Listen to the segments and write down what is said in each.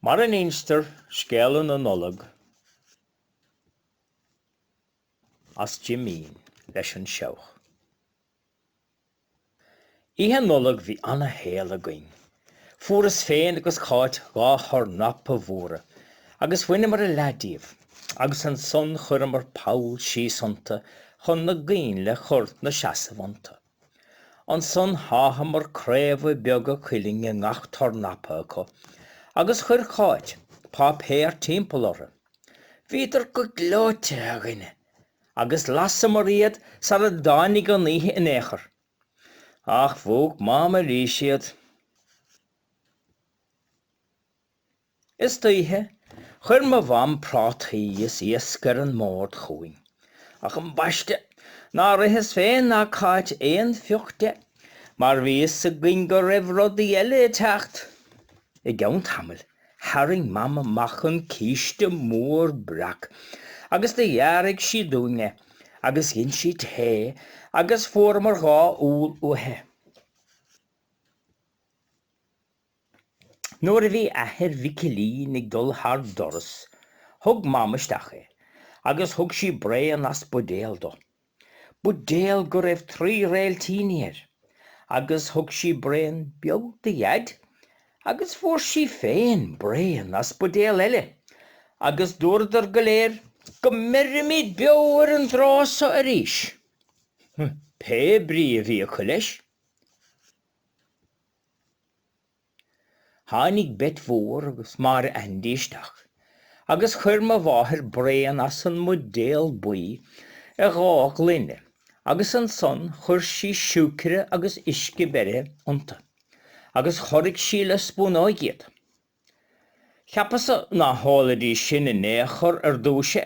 Mar a n-instear scéala na Nollag as Jimín leis an Seabhac. Oíche Nollag bhí ana-shaol againn. Fuaireas féin agus Cáit dhá thornapa mhóra agus bhaineamar a leath díobh agus ansan chuireamar poll síos iontu chun na gcoinnle a chur 'na seasamh iontu. Ansan sháitheamar craobha beaga cuilinn i ngach tornapa acu agus chuir Cáit páipéar timpeall orthu. Bhíodar go gleoite a dhuine agus lasamar iad sar a dtáinig an oíche in aon chor. Ach mhúch Mam arís iad. Istoíche, chuir mo Mham prátaí is iasc ar an mbord chugainn. Ach ambaiste, nár itheas féin ná Cáit aon phioc de, mar bhí 'fhios againn go raibh rudaí eile ag teacht! I gceann tamaill, tharraing Mam amach an císte mór breac agus do ghearraigh sí dúinn é, agus dhein sí tae agus fuaireamar dhá úll uaithi. Nuair a bhí athair Mhicilín ag dul thar doras, thug Mam isteach é, agus thug sí braon as buidéal dó. Buidéal go raibh trí réiltíní air! Agus thug sí braon beag do Dhaid, agus fuair sí féin braon as buidéal eile, agus dúradar go léir, Go mbeirimid beo ar an dtráth so arís! pé brí a bhí acu leis. Tháinig Bet Mhór agus Máire Aindí isteach agus chuir mo mháthair braon as an mbuidéal buí i dhá ghloine agus ansan chuir sí siúicre agus uisce beirithe iontu agus chorraigh sí le spúnóig iad. Cheapas-sa ná hólfaidís sin in aon chor ar dtúis é.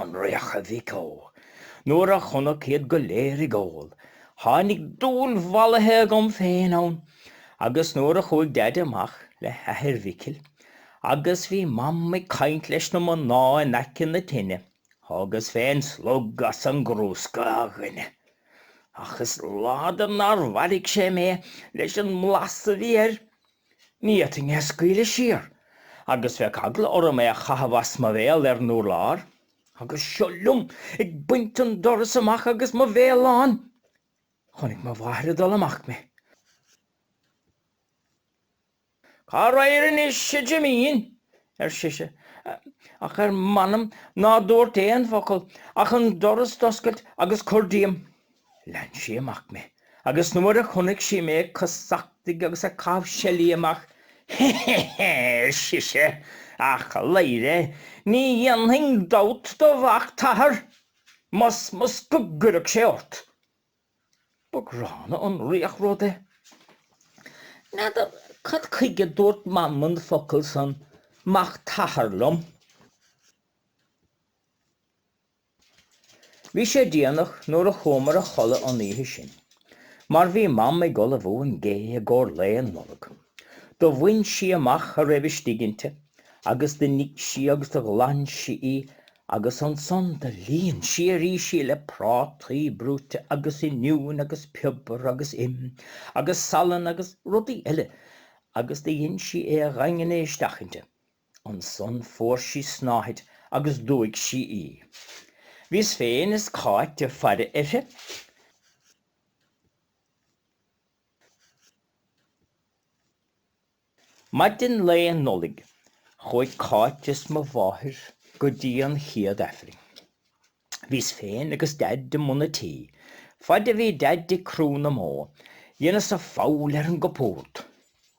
an riach a mhic ó! Nuair a chonac iad go léir ag ól, tháinig dúil mhallaithe agam féin ann, agus nuair a chuaigh Daid amach le hathair Mhicil, agus bhí Mam ag caint leis na mná in aice na tine, thógas féin slog as an gcrúsca a dhuine. Ach is láidir nár mharaigh sé mé leis an mblas a bhí air. Ní fhéadfainn é a scaoileadh siar, agus bheadh eagla orm é a chaitheamh as mo bhéal ar an urlár. Agus seo liom ag baint an doras amach agus mo bhéal lán! Chonaic mo mháthair ag dul amach mé. Cá raghair anois, a Jimín? ar sise. Ach ar m'anam ná dúrt aon focal, ach an doras d'oscailt agus cur díom. Lean sí amach mé agus nuair a chonaic sí mé ag casachtaigh agus ag caitheamh seilí amach, He he he, ar sise, a chladhaire, ní dhéanfainn dabht do mhac t'athar, masmas, go gcuirfeadh sé ort. Ba ghránna an riach rud é. N'fheadar cad chuige a dúirt Mam an focal san mac t'athar liom. Bhí sé déanach nuair a chuamar a chodladh an oíche sin, mar bhí Mam ag ullmhú an gé i gcomhair lae an Nollag. Do bhain sí amach a raibh istigh inti agus do nigh sí agus do ghlan sí í agus ansan do líon sí arís í le prátaí brúite agus oinniúin agus piobar agus im agus salann agus rudaí eile agus do dhein sí é a dhaingniú isteach inti. Ansan fuair sí snáthaid agus d'fhuaigh sí í. Bhíos féin is Cáit ag faire uirthi. Maidin lae Nollaig chuaigh Cáit is mo mháthair go dtí an chéad aifreann. Bhíos féin agus Daid i mbun an tí. Faid a bhí Daid ag crú na mbó, dheineas-sa foghail ar an gcupúrd.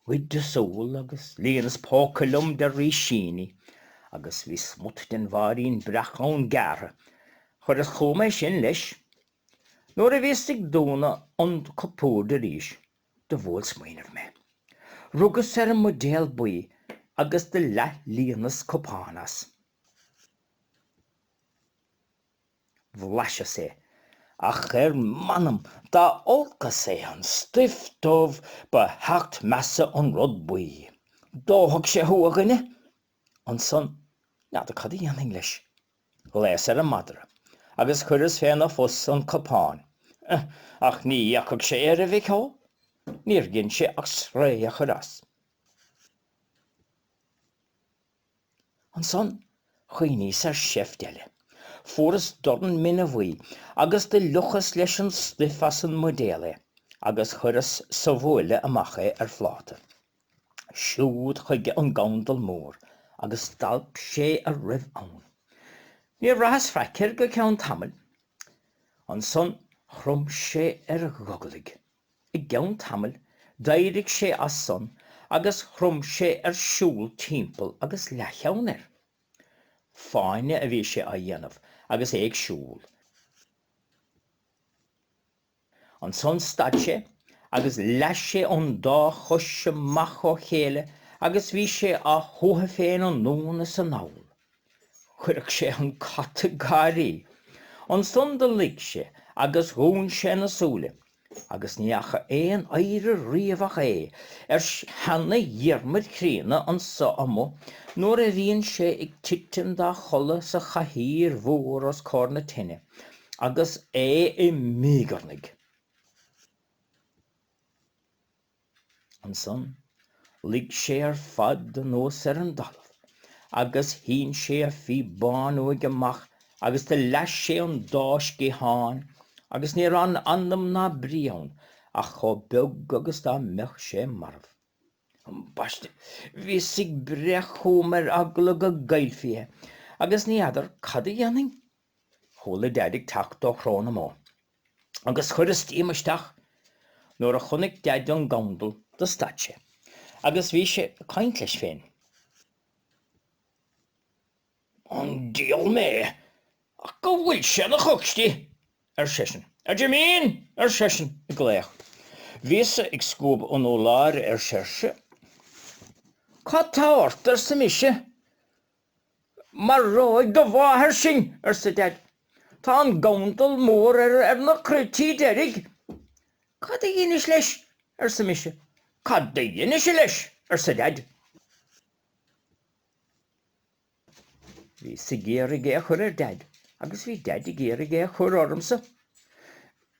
Ghoideas úll agus líonas póca liom de rísíní, agus bhí smut den bhairín breac ann gearrtha. Chuireas chugam é sin, leis. Nuair a bhíos ag dúnadh an chupúird arís, do bhuail smaoineamh mé. Rugas ar an mbuidéal buí agus do leath-líonas cupán as. bhlaiseas é, ach ar m'anam dá olcas é an stuif dubh ba sheacht measa an rud buí. Dófadh sé thú, a dhuine! Ansan, n'fheadar cad a dhéanfainn leis. Ghlaos ar an madra, agus chuireas féna phus an cupán, ach ní fhéachfadh sé air a mhic ó, níor dhein sé ach sraoth a chur as. Ansan chuimhníos ar sheift eile. Fuaras dorn mine bhuí agus do fhliuchas leis an stuif as an mbuidéal é agus chuireas sa bhuaile amach é ar phláta. Siúd chuige an gandal mór agus d'alp sé a raibh ann. Níor bhraitheas faic air go ceann tamaill. Ansan chrom sé ar ghogallaigh. I gceann tamaill, d'éirigh sé as san agus chrom sé ar siúl timpeall agus leathcheann air. Fáinne a bhí sé á dhéanamh agus é ag siúl. Ansan stad sé agus leath sé an dá chois amach ó chéile agus bhí sé á shuathadh féin anonn is anall. Chuirfeadh sé an cat ag gáirí. Ansan do luigh sé agus dhún sé na súile, agus ní fhaca aon oidhre riamh ach é, ar sheana-Dhiarmaid chríonna anso amuigh nuair a bhíonn sé ag titim dá chodladh sa chathaoir mhór os comhair na tine, agus é ag míogarnaigh. Ansan luigh sé ar fad anuas ar an dtalamh agus shín sé a phíobán uaidh amach agus do leath sé an dá sciathán agus ní raibh anam ná brí ann ach chomh beag agus dá mbeadh sé marbh. Ambaiste, bhíos ag breith chugam ar eagla go gcaillfí é, agus ní fheadar cad a dhéanfainn. Chuala Daid ag teacht ó Chró na mBó agus chuireas díom isteach. Nuair a chonaic Daid an gandal do stad sé agus bhí sé ag caint leis féin. An dial mé, ach go bhfuil sé ina chocstí! ar seisean. A Jimín! ar seisean ag glaoch. Bhíos-sa ag scuabadh an urláir ar séirse. Cad tá ort? arsa mise. Maróidh do mháthair sinn, arsa Deaid. Tá an gandal mór ar na croití deiridh. Cad a dheinis leis? arsa mise. Cad do dheinis-se leis? arsa Deaid. Bhíos ag iarraidh é a chur ar Deaid agus bhí Deaid ag iarraidh é a chur ormsa.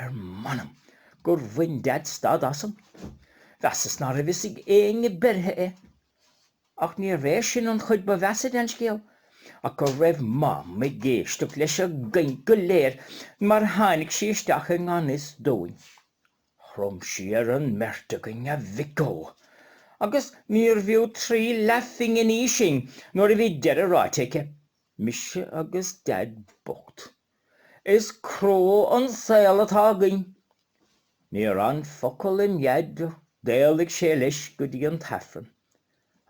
Ar m'anam gur bhain Deaid stad asam, mheasas ná raibh a fhios ag éinne beirthe é. Ach níorbh é sin an chuid ba mheasa den scéal, ach go raibh Mam ag éisteacht leis an gcaint go léir mar tháinig sí isteach i ngan fhios dúinn. Chrom sí ar an mbeirt againn, a mhic ó, agus níorbh fhiú trí leathphinginí sinn nuair a bhí deireadh ráite aici, mise agus Deaid bocht. Is crua an saol atá againn. Níor fhan focal i nDaid, d'éalaigh sé leis go dtí an tAifreann,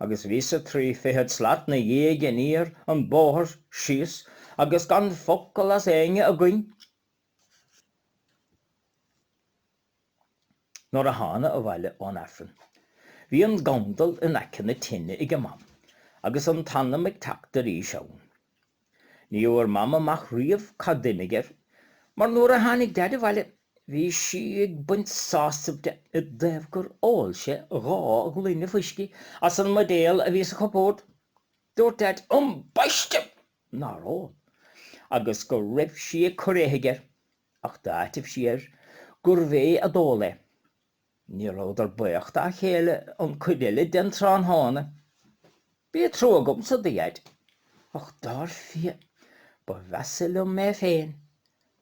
agus bhíos-sa trí fichead slat 'na dhiaidh aniar an bóthar síos agus gan focal as éinne againn! Nuair a thána abhaile ón Aifreann bhí an gandal in aice na tine ag mam agus an t-anam ag teacht arís ann. Ní fhuair mam amach riamh cad d'imigh air mar nuair a tháinig deaid abhaile bhí sí ag baint sásamh de i dtaobh gur ól sé dhá ghloine fuiscí as an mbuidéal a bhí sa chupórd. Dúirt deaid ambaiste nár ól agus go raibh sí ag cur éithigh air. ach d'áitigh sí air gurbh é a d'ól é. Ní rabhadar baoch dá chéile an cuid eile den tráthnóna. Bhí trua agamsa do Dhaid, ach dar fia, ba mheasa liom mé féin,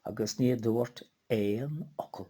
agus ní dúrt aon fhocal.